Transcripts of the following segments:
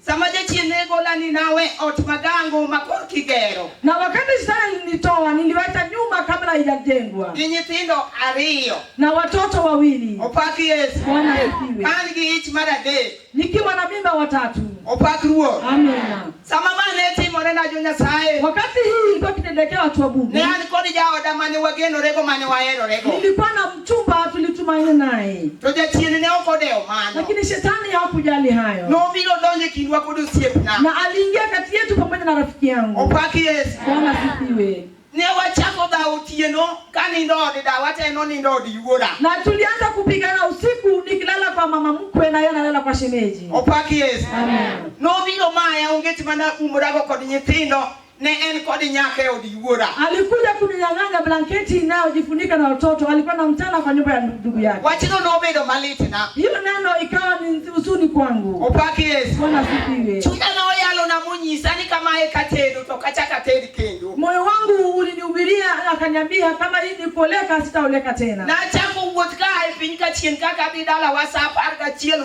Sama jachien ne gola ni nawe ot magango ma korki gero. Na wakati shetani alinitoa niliwacha nyumba kabla haijajengwa. Gi nyithindo ariyo. Na watoto wawili. Opak Yesu. Bwana asifiwe. An gi ich mar adek. Nikiwa na mimba watatu. Opak Ruoth. Amina. Sama ma ne timore na jo Nyasaye. Wakati hii ilikuwa kitendekea watu wa Mungu. Ne an kod jaoda mane wagenorego mane waherorego. Nilikuwa na Mchumba tulitumaini naye, to jachien ne ok odewo mano, lakini shetani hakujali hayo, nobiro donjo e kindwa kod osiepna, na aliingia kati yetu pamoja na rafiki yangu. Opak Yesu. Bwana asifiwe. Ne wachako dhawo otieno ka nindo od dawa to en onindo od yuora. Na tulianza kupigana usiku nikilala kwa mama mkwe na yeye analala kwa shemeji. Opak Yesu. Amen. Nobiro maya onget mana umrago kod nyithindo ne en kod nyaka e od yuora. Alikuja kuninyang'anya blanketi inayojifunika na watoto, alikuwa na mtana kwa nyumba ya ndugu yake. Wachino nobedo malit na. Hiyo neno ikawa ni huzuni kwangu. Opaki Yesu. Bwana sifiwe. Chunya na oyalo na munyisa ni kama eka tendo to kachaka tendi kendo. Moyo wangu ulinihubiria akaniambia kama hii ni koleka sitaoleka tena. Na chako wuoth ka e piny ka chien kaka dhi dala wasa apar gachiel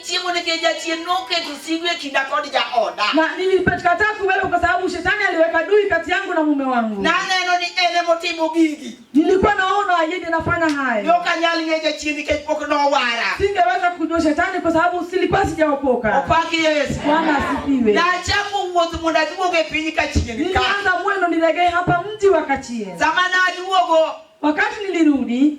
Chiemo nikech jachien noketo sigu e kinda kod jaoda. Na nilipatikataa kuwepo kwa sababu shetani aliweka dui kati yangu na mume wangu. Na neno ni ene motimo gigi. Nilikuwa naona ayende nafanya haya. Ndio kanyali ng'e jachien nikech pok nowara. Singeweza kujua shetani kwa sababu silikuwa sijaokoka. Opaki Yesu. Bwana asifiwe. Na chaku wuoth mondo aduog e piny Kachien ka. Nilianza mwendo nilegee hapa mji wa Kachien. Sama naduogo. Wakati nilirudi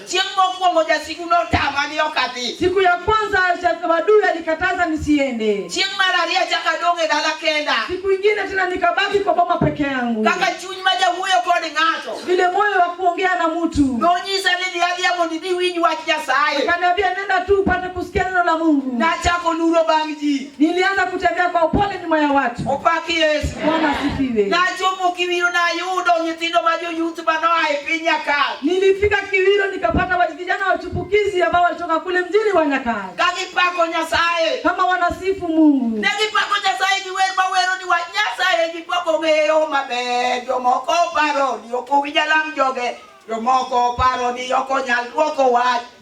Chieng' mokwongo jasigu notama ni ok adhi. Siku ya kwanza ja- adui alikataza nisiende. Chieng' mar ariyo achako adong' e dala kenda. Siku ingine tena nikabaki kwa boma peke yangu, Kaka chuny ma jawuoyo kod ng'ato. vile moyo wa kuongea na mtu Nonyisa ni dhi adhiya mondo idhi winj wach Nyasaye. akaniambia, nenda tu upate kusikia neno la Mungu. Nachako luro bang' ji. Nilianza kutembea kwa upole nyuma ya watu. Opaki Yesu. Bwana asifiwe. Na chomo kiwiro na yudo nyithindo ma joyuth bano ae piny Nyakal. Nilifika Kiwiro nikapata wa- vijana wachipukizi ambao walitoka kule mjini wa Nyakal. Ka gipako Nyasaye. Kama wanasifu Mungu. Ne gipako Nyasaye gi wer ma wero ni wach Nyasaye ji pok ong'eyo maber. Jomoko paro ni ok owinj alam joge. Jomoko paro ni ok onyal dwoko wach.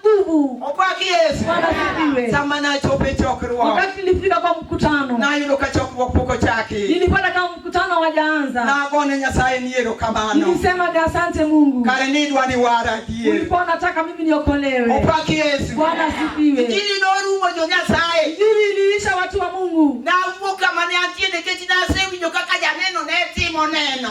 nguvu. Opak Yesu. Bwana asifiwe. Sama nachopo e chokruok, Wakati nilifika kwa mkutano, nayudo ka chokruok pok ochaki. nilipata kama mkutano hawajaanza. Nagone Nyasaye ni erokamano. Nilisema ni asante Mungu, Kare ni idwa ni wara adier. ulikuwa unataka mimi niokolewe. Opak Yesu. Bwana asifiwe. Injili norumo jo Nyasaye. Injili iliisha watu wa Mungu. Nawuok kama ne antie nikech nasewinjo kaka janeno ne timo neno.